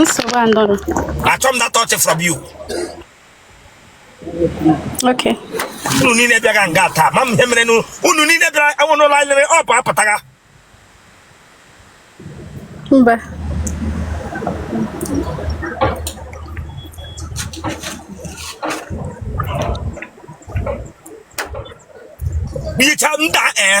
nsogbu adịrọ achọ m that touch from you okay unu niile bịaga nga taa ma m ihe mere nu unu niile bịara enwe n'ụlọ anyị lere ọ bụ apụtaga mba yicha nda ee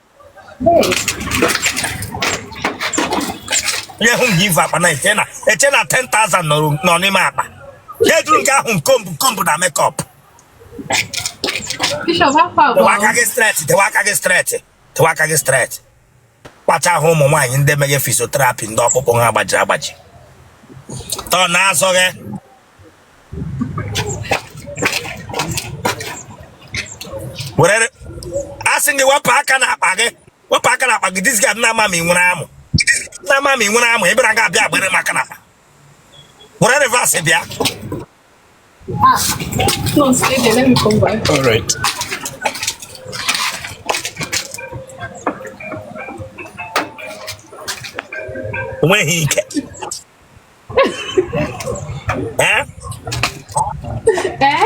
onye hụ nke i vu akpa na eche na eche na 10,000 nọrọ- nọ n'ime akpa ya eduru nke ahụ comb comb na makeup Bishop, how far dewe aka gị straight dewe aka gị straight dewe aka gị straight kpacha ahụ ụmụ nwaanyị ndị meghe physiotherapy ndị ọkpụkpụ ha gbajiri agbaji tọ na-azọghị were a sị gị wepụ aka n'akpa gị wepụ aka n'akpa gị this guy na-ama ma ị nwere amụ na-ama ma ị nwere amụ ị bịara ga abịa agbere m aka n'akpa were reverse bịa Ah, no, stay there. Let me come back. All right. When he can. Eh? Eh?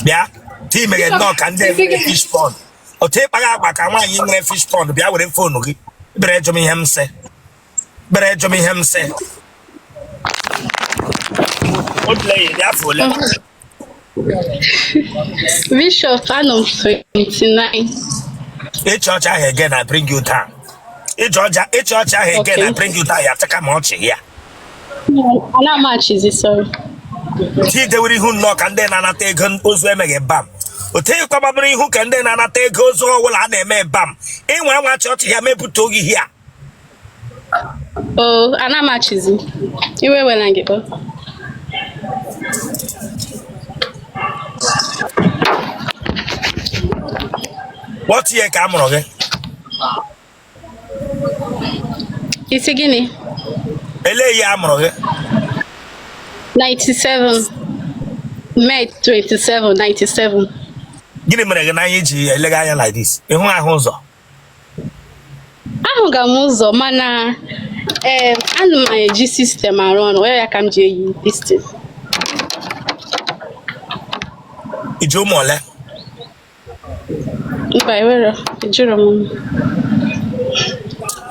bịa otu ị meghe nnọọ ka ndị fish pond otu ị kpagha agwa ka nwaanyị nwere fish pond bịa were phone gị bere ajụ m ihe m sị bere ajụ m ihe m sị Ole ị dị afọ? Bishop, anọ m 29. ị chịa ọchị ahụ again I bring you down ị chịa ọchị ị chịa ọchị ahụ again I Okay. bring you down ya chaka ma ọchị ya Anaghị m achịzi, sorry. otu i dewere ihu nnọọ ka ndị na-anata ego ozu e meghe embalm otu ị kwa gbabara ihu ka ndị na-anata ego ozu ọbụla a na-eme embalm ị nwa anwa chịa ọchị a mepụta oge ihe a Oh, anaghị m achịzi. Iwe ewela gị kpọọ. What year ka a mụrụ gị? Ị sị gịnị? Elee year a mụrụ gị? 97 May 27 97 Gịnị mere gị n'anya i ji elega anya like this? Ị naghị ahụ ụzọ? ahụga m ụzọ mana ee ana m eji system arụ ọrụ ya ka m ji eyi this thing i ji ụmụ ole mba ewere ejiro m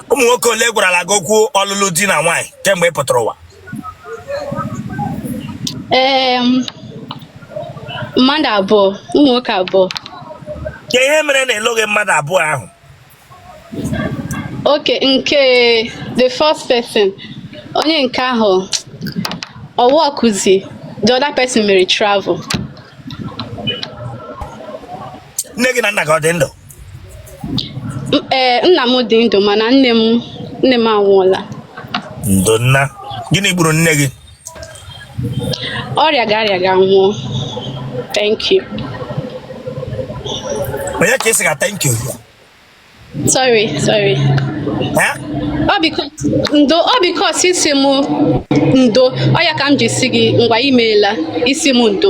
ụmụ nwoke ole gwarala gị okwu ọlụlụ di na nwaanyị kemgbe ị pụtara ụwa ee mmadụ abụọ ụmụ nwoke abụọ kee ihe mere na ị lụghị mmadụ abụọ ahụ okay nke the first person onye nke ahụ ọ wa ọkụzi the other person mere travel nne gị na nna gị ọ dị ndụ ee eh, nna m dị ndụ mana nne m nne m anwụọla ndo nna gịnị gburu nne gị ọ rịaga arịaga nwụọ thank you onye ka ị sịga thank you sorry sorry ọ biko ndo ọ because ị sị m ndo ọ ya ka m ji sị gị ngwa imeela ị sị m ndo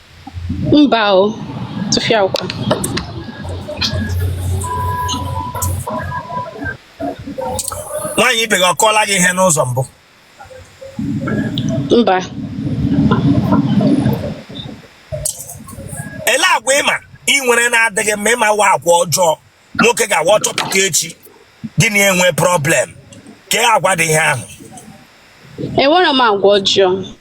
Mba o, tụfịakwa. Nwaanyị ibe gị ọ kọọla gị ihe n'ụzọ mbụ? Mba. Ele agwa ị ma ị nwere na-adịghị mma ị ma wa agwa ọjọọ nwoke ga-awa ọ chọpụta echi gị na enwe problem kee agwa dị ihe ahụ. Enwere m agwa ọjọọ.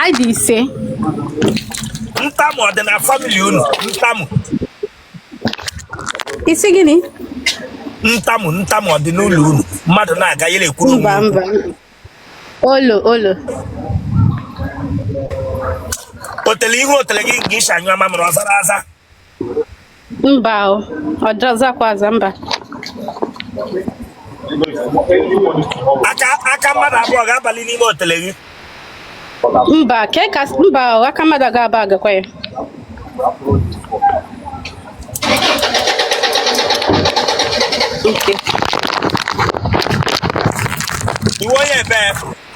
anyị dị ise ntamu ọ dị na family unu ntamu isi gịnị ntamu ntamu ọ dị n'ụlọ unu mmadụ na-aga ya na-ekwuru mba onwe mba olo olo otele ihu otele gị ị shi anyụ amamịrị ọ zara aza mba ọ da azakwa aza mba aka mmadụ abụọ ga-abali n'ime otele gị mba ke ka mba aka mmadụ ga-aba agakwa ya Okay. You want your best.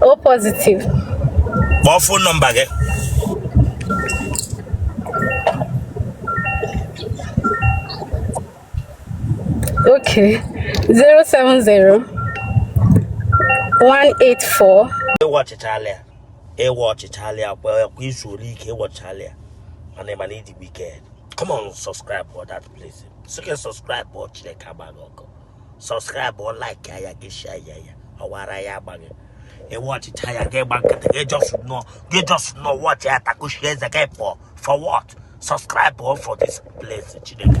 O positive. Kpọọ phone number gị. Okay. 070 184 Ị watchịchala ya. Ị watchịchala ya kwa ị zuoro ike ị watchịchala ya. Mana ị ma na ị dị wicked. Come on, subscribe for that place. So can subscribe or Chineke agba gị ọkụ. subscribe o like ya gị share ya ya ọwara ya agbaghị ị watchịcha ya gị gba nkịtị gị just nọ gị just nọ watchie ya takuchie eze gị pụọ for what subscribe o for this place chineke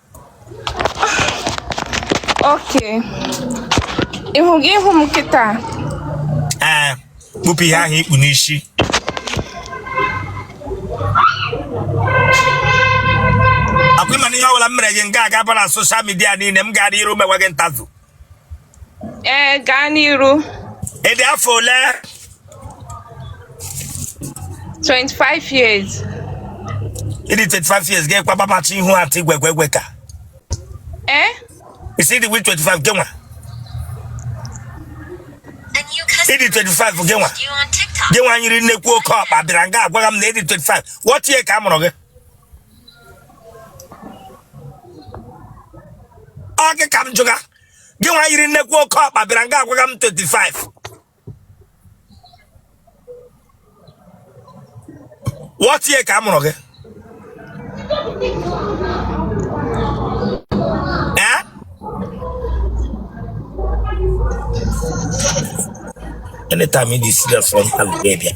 okay ihu gị ị hụ m kịta ee eh, kpupụ ihe ahụ i kpu n'isi ọkwa ị ma na ihe ọbụla m mere gị nga a ga-abara social media niile m gara iru mewe gị interview ee gaa n'iru Ị dị afọ ole? 25 years Ị dị 25 years gị kwa babachi ihu atị gwegwegwe ka. ee Ị sị dị with 25 gị nwa. Ị dị 25 gị nwa. Gị nwa nyiri nnekwu oke ọkpa bịara nga agwaga m na ị dị 25. What year ka a mụrụ gị? ọ gị ka m jụga gị nwa yiri nnekwu oke ọkpa bịara nga agwaga m 25 what year ka a mụrụ gị Eh? anytime you dey serious from Algeria.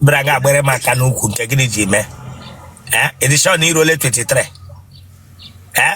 bịara nga bere m aka n'ukwu nke gịnị ji mee ee ị dị sure na i ruole 23 ee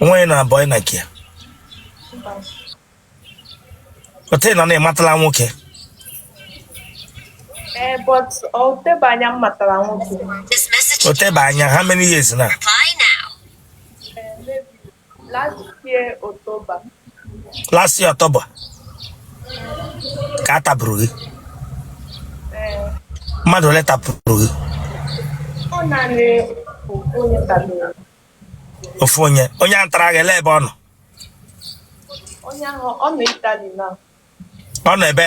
nwanyị na abụọ na kia o tena na ị matala nwoke eh, o tebe anya m matara nwoke o tebe anya how many years now eh, last year October last year October ka a tapụrụ gị mmadụ ole tapụrụ gị ofu onye onye a tara gị ele ebe ọ nọ ọ nọ ebe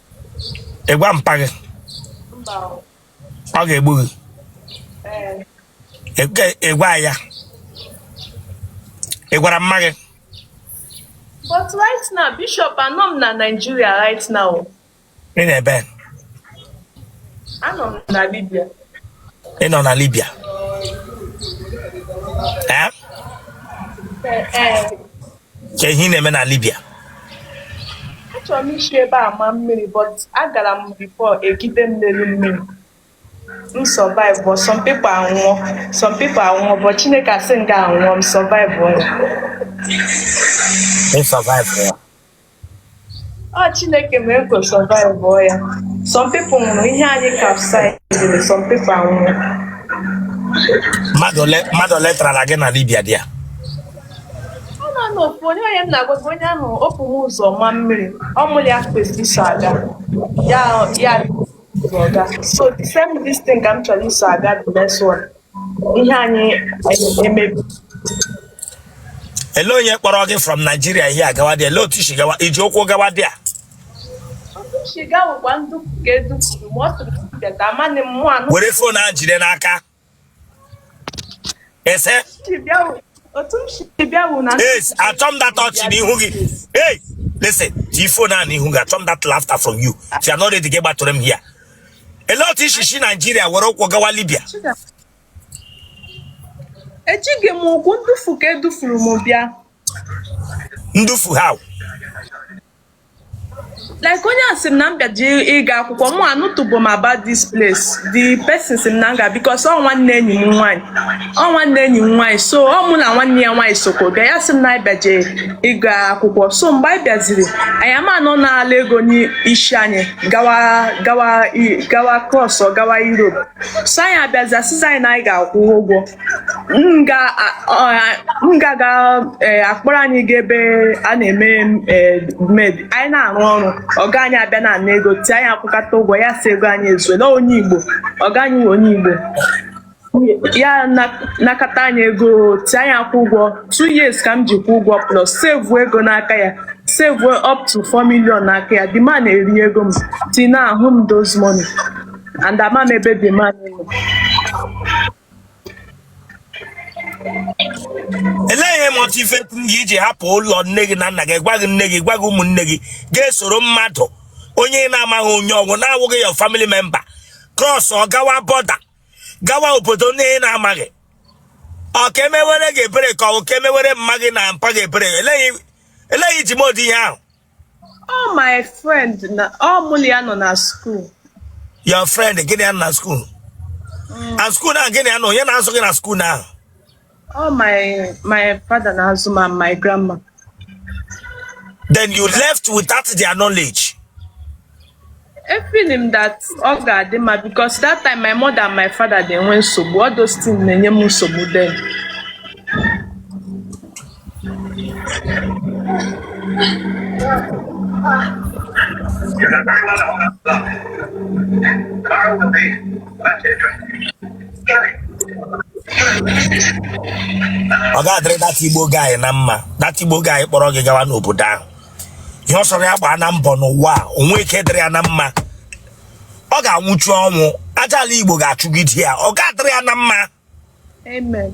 ị gwa mpa gị ọ ga-egbu gị Ị- ị gwa ya ị gwara mma gị But right now, Bishop, anọ m na Nigeria right now. ị nọ ebe Anọ m na Libya. ị nọ na Libya ee Eh, eh. kee ihe ị na-eme na Libya achọrọ m isi ebe a ma mmiri but agara m before egide m n'elu mmiri m survive but some people anwụọ some people anwụọ but Chineke asị m ga-anwụ o m survive ya ị survive ya Ah, Chineke mere ka o survive ọ ya. Some people nwụrụ ihe anyị capsized, some people anwụrụ. mmadụ ole mmadụ ole tarala gị na libya there Ọ naanị ofu onye onye m na-agwa gị onye ahụ o bu m ụzọ ma mmiri, ọ mụ na ya kwesịrị iso aga. Ya ya ụzọ ga. So the same this thing ka m chọrọ iso aga the next one. ihe anyị emebi ele onye kpọrọ gị from Nigeria ị agawa there ele otu i si gawa i ji ụkwụ gawa there were fon ahụ jide n'aka ese yes achọ m that ọchị n'ihu gị hey listen tii fon ahụ n'ihu gị achọ m that laughter from you if you are not ready gị gbatụrụ m here ele otu i si si naijiria were ụkwụ gawa libya ejighị m ụkwụ ndufu ka edufuru m bịa ndufu how like onye a sị m na m bịaji ịga akwụkwọ mụ anụtụbụ m about this place the person sị m na m ga because ọ nwanne enyi m nwaanyị ọ nwanne enyi m nwaanyị so ọ mụ na nwanne ya nwaanyị sokwa bịa ya sị m na anyị bịaje ịga akwụkwọ so mgbe anyị bịaziri anyị ama na ọ naala ego n'isi anyị gawa gawa i- gawa cross ọ gawa europe so anyị abịazi asịzi anyị na anyị ga-akwụ ụgwọ m ga a- ọ- m ga-aga eh, akpọrọ anyị ga ebe a na-eme eh, maid anyị na-arụ ọrụ ọga anyị abịa na-ana ego tie anyị akwụkata ụgwọ ya sị ego anyị ezuela onye igbo ọga anyị wụ onye igbo ya nakata anyị ego tie anyị akwụ ụgwọ two years ka m ji kwụ ụgwọ plus save ego n'aka ya save up to 4 million n'aka ya the man erie ego m till now ahụ m those money and ama m ebe the man nọ elee ihe motivate gị iji hapụ ụlọ nne gị na nna gị gwaghị nne gị gwaghị ụmụnne gị ga-esoro mmadụ onye ị na-amaghị onye ọ wụ na-awụghị your family member cross ọ gawa border gawa obodo ndị ị na-amaghị ọ ka e mewere gị ebere ka ọ ka e mewere mma gị na mpa gị ebere elee ihe elee ihe i ji mee ụdị ihe ahụ Ọ my friend na ọ mụ na ya nọ na school. your friend gị na ya nọ na skuul na skuul ahụ gị na ya nọ onye na-azụ gị na skuul ahụ All my my father na Azuma and my grandma. Then you left without their knowledge. I feel him that ọ ga-adị mma because that time my mother and my father dey enwe nsogbu all those things na-enye m nsogbu then. ọ ga-adịrị that igbo guy na mma that igbo guy kpọrọ gị gawa n'obodo ahụ ihe ọ sọrọ ya gbaa na mbọ n'ụwa a o nwe ike dịrị ya na mma ọ ga-anwụchu ọnwụ aja ala igbo ga-achụgide ya ọ ga-adịrị ya na mma Amen.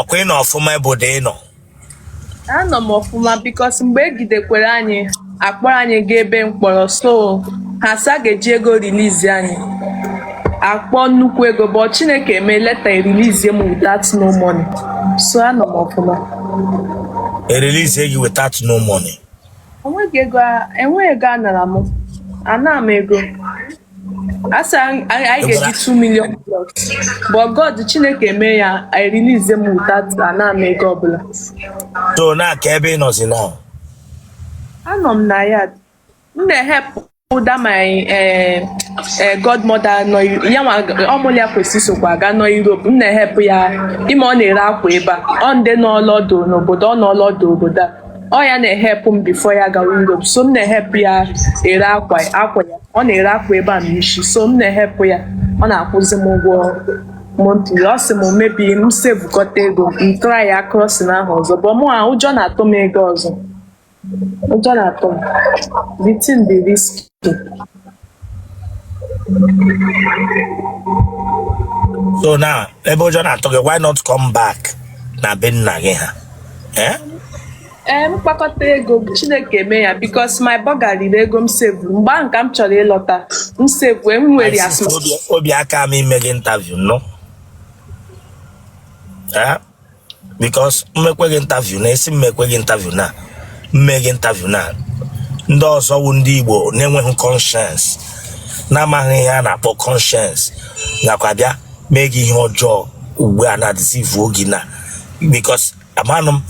ọkwa ị nọ ọfụma obodo ị nọ anọ m ọfụma because mgbe egidekwere anyị akpọrọ anyị gaa ebe mkpọrọ so ha sị a ga-eji ego release anyị akpọ nnukwu ego but chineke eme later e release m without no money so anọ m ọfụma e release gị without no money enweghị ego a- enweghị ego anara m ana m ego a sị anyị ga-eji 2 million plus but god chineke mee ya e release m without ana m ego ọbụla so now kee ebe ị nọzi now anọ m na ya m na-ehelp that my eh, eh, godmother nọ ya nwa ọ mụlụ ya kwesị isokwa aga na Europe m na-ehelp ya ime ọ na-ere akwa ebe a ọ ndị nọlọ ọdụ n'obodo ọ nọlọ ọdụ obodo a ọ ya na-ehelp m before ya gawa Europe so m na-ehelp ya ere akwa akwa ya ọ na-ere akwa ebe a n'isi so m na-ehelp ya ọ na-akwụzi m ụgwọ monthly ọ sị m maybe m savekọta ego m try ya crossing ahụ ọzọ but mụwa ụjọ na-atụ m ịga ọzọ ụjọ na-atụ m the thing dị risky so now ebe ụjọ na-atụ gị why not come back na be nna gị ha eh? ee m kpakọta ego chineke eme ya because my burger riri ego m save mgbe ahụ ka m chọrọ ịlọta m save m nwere ya obi aka m ime gị interview nnọ because m mekwe gị interview na esi m mekwe gị interview na m mee gị interview na ndị ọzọ wụ ndị Igbo na-enweghị conscience na-amaghị ihe a na-akpọ conscience nakwa bịa mee gị ihe ọjọọ ugbu a na-edeceive gị na because amanụ m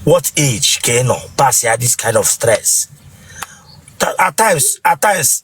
what age ka ị nọ pass ya this kind of stress Ta- at times at times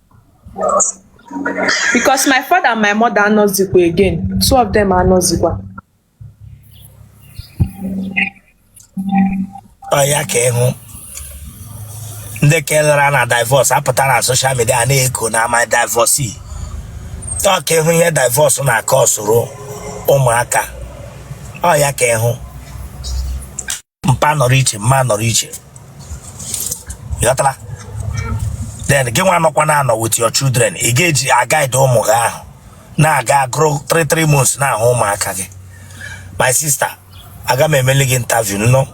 Because my father and my mother anọzikwa again. Two of them anọzikwa. Ọ ya ka ịhụ ndị kelara na divorce apụta na social media na-eko na I'm a divorcee. Ọ ka ịhụ ihe divorce na-acauserụ ụmụaka. Ọ ya ka ịhụ. mpa nọrọ iche mma nọrọ iche ịghọtala then gị nwa nọkwa na anọ with your children ị ga-eji aguide ụmụ gị ahụ na ha ga-agrow 3 3 months na-ahụ ụmụaka gị my sister aga m emeli gị interview nnọ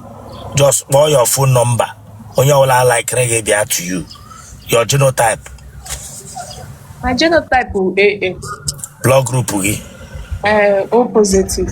just kpọọ your phone number onye ọbụla likere gị bịa to you your genotype my genotype bụ AA blood group gị eh, O positive